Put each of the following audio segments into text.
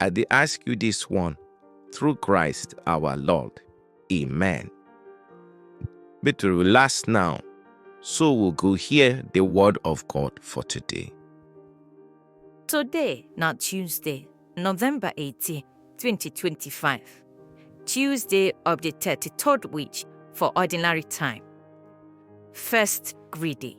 I dey ask you this one through Christ our Lord. Amen. Make to relax now, so we go hear the word of God for today. Today na Tuesday, November 18, 2025. Tuesday of the 33rd week for ordinary time. First greedy.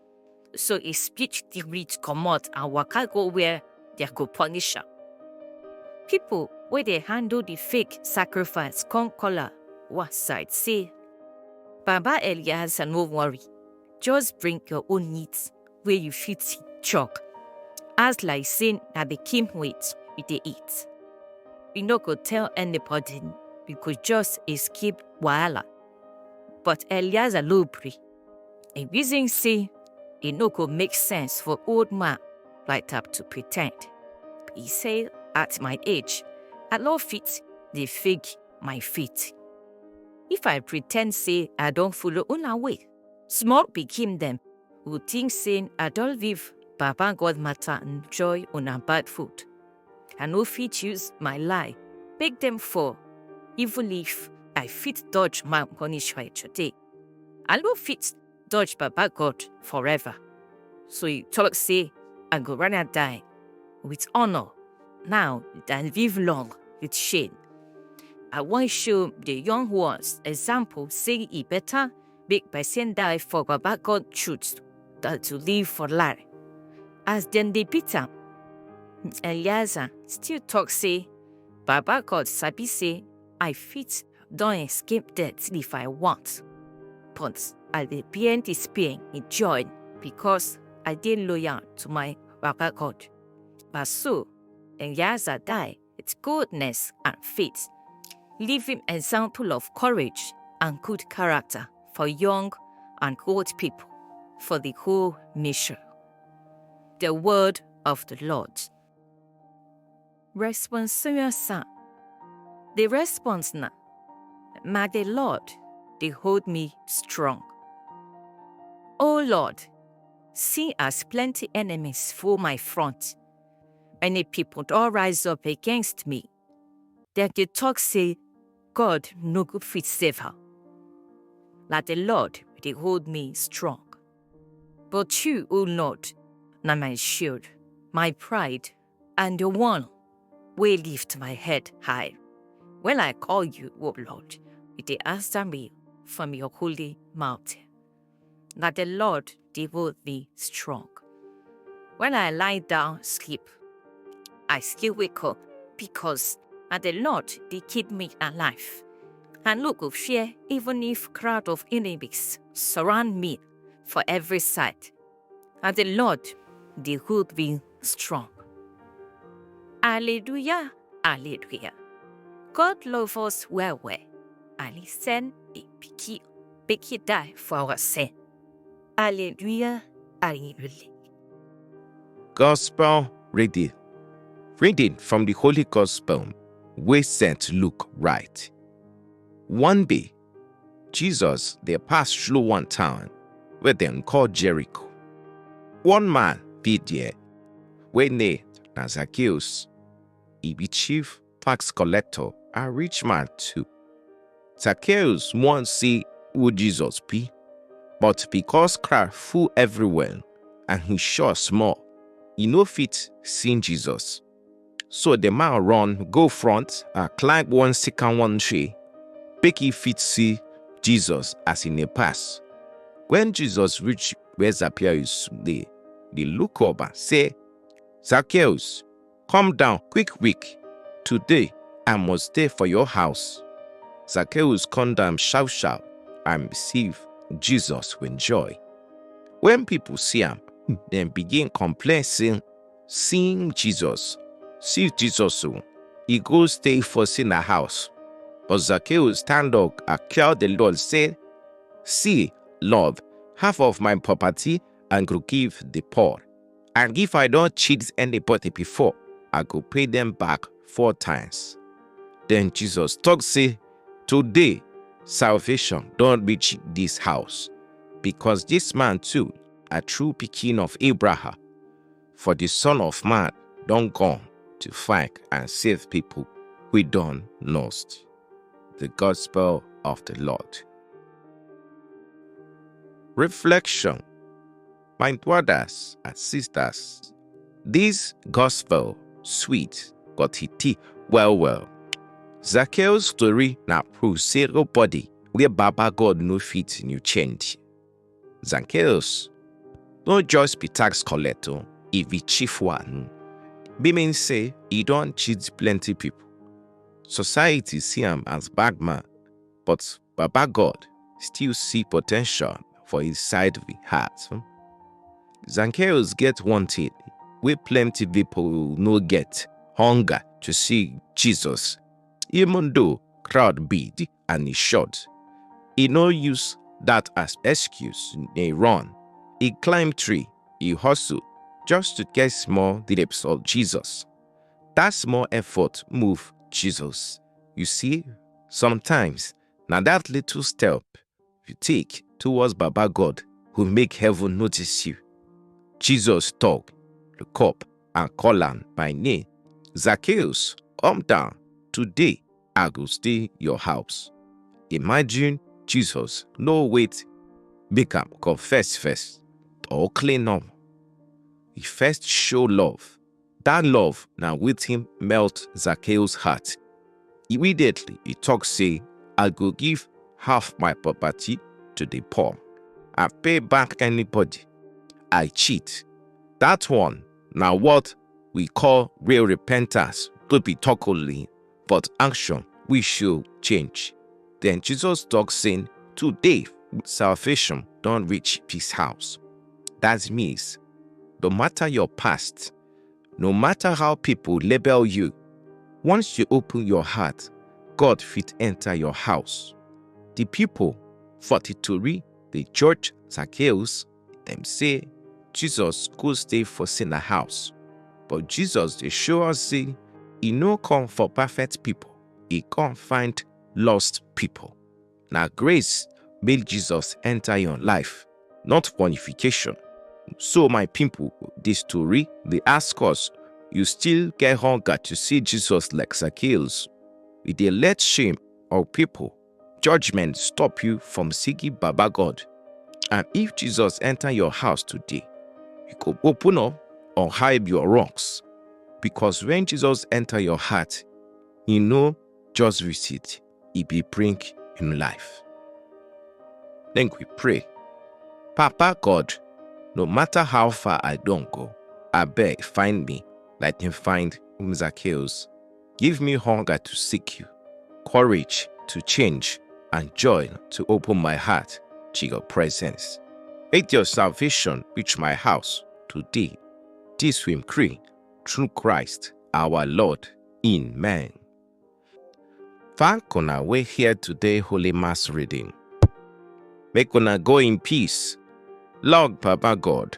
So he split the reed comot and waka go where they go punish am. People wey dey handle the fake sacrifice come call am one side say, Baba Eliezer no worry, just bring your own meat wey you fit chop. As like say na the king weight we dey eat. We no go tell anybody, we go just escape wahala. But Eliezer no gree. E reason say e no go make sense for old man like that to pretend. He say, at my age, I no fit dey fake my faith. If I pretend say I don follow una way, small pikin dem go think say I don leave Baba God matter enjoy una bad food. I no fit use my lie make dem fall, even if I fit dodge my punishment today. I no fit dodge Baba God forever. So he talk say, I go rather die with honor now than live long with shame. I wan show the young ones example say e better make person die for Baba God truth than to live for lie. As dem dey beat am, Eliezer still talk say, Baba God sabi say I fit Don escape death if I want. But I dey bear this pain with joy because I dey loyal to my Baba God. But so, and as I die, it's goodness and faith, leaving example of courage and good character for young and old people, for the whole nation. The word of the Lord. Responsorial The response na Ma the Lord dey hold me strong. Oh Lord, see as plenty enemies full my front. Many people don rise up against me. Dem dey talk say God no go fit save her. Na the Lord dey hold me strong. But you, O Lord, na my shield, my pride, and the one wey lift my head high. When I call you, O Lord, you dey answer me from your holy mountain. Na the Lord dey hold me strong. When I lie down sleep, I still wake up because na the Lord dey keep me alive. I no go fear even if crowd of enemies surround me for every side. and the Lord dey hold me strong. Hallelujah, hallelujah. God love us well well and he send a picky picky die for our sin. Hallelujah, hallelujah. Gospel reading. Reading from the Holy Gospel wey St. Luke write. One day, Jesus dey pass through one town wey dem call Jericho. One man dey there wey name na Zacchaeus. He be chief tax collector and rich man too. Zacchaeus wan see who Jesus be, but because crowd full everywhere and he sure small, he no fit see Jesus. So the man run, go front, and climb one second one tree, make he fit see Jesus as he dey pass. When Jesus reach where Zacchaeus dey, the look up and say, Zacchaeus, come down quick quick. Today I must stay for your house. Zacchaeus come down sharp sharp and receive Jesus with joy. When people see am, dem begin complain say Seeing Jesus, See Jesus o, e go stay for sinner house. But Zacchaeus stand up and tell the Lord say, See, Lord, half of my property I go give the poor. And if I don cheat anybody before, I go pay them back four times. Then Jesus talk say, Today salvation don reach this house, because this man too a true pikin of Abraham. for di Son of Man don come to find and save pipo wey don lost. Di Gospel of di Lord. Reflection My brothers and sisters, dis Gospel sweet but e deep well well. Zacchaeus story na proof sey nobody wey Baba God no fit new change. Zacchaeus no just be tax collector, e be chief one. Be mean say e don cheat plenty people. Society see am as bad man, but Baba God still see potential for his side of the heart. Zacchaeus get one thing wey plenty people no get, hunger to see Jesus. Even though crowd big, and e short. E no use that as excuse, e run. E climb tree, e hustle just to get small glimpse of Jesus. That small effort move Jesus. You see, sometimes na that little step you take towards Baba God who make heaven notice you. Jesus talk, look up and call am by name. Zacchaeus, come down. Today I go stay your house. Imagine Jesus no wait make am confess first or clean up. He first show love Dat love na wetin melt Zacchaeus heart. Immediately, e talk say, I go give half my property to the poor and pay back anybody I cheat. That one na what we call real repentance, no be talk only. but action we show change. Then Jesus talk saying, today salvation don't reach peace house. That means no matter your past, no matter how people label you, once you open your heart, God fit enter your house. The people for the Tori, the church, Zacchaeus, Dem say Jesus go stay for Sina house, but Jesus dey show us say e no come for perfect people, e come find lost people. Na grace make Jesus enter your life, not qualification. So my people, this story dey ask us, you still get hunger to see Jesus like Zacchaeus? You dey let shame or people judgment stop you from seeking Baba God. And if Jesus enter your house today, you go open up or hide your wrongs. Because when Jesus enter your heart, he no just visit, he be bring him life. Then we pray. Papa God, no matter how far I don't go, I beg find me like him find Zacchaeus. Give me hunger to seek you, courage to change, and joy to open my heart to your presence. Make your salvation reach my house today. This we pray through Christ our Lord. Amen. Thank una we hear today Holy Mass reading. Make una go in peace. Lord Papa God,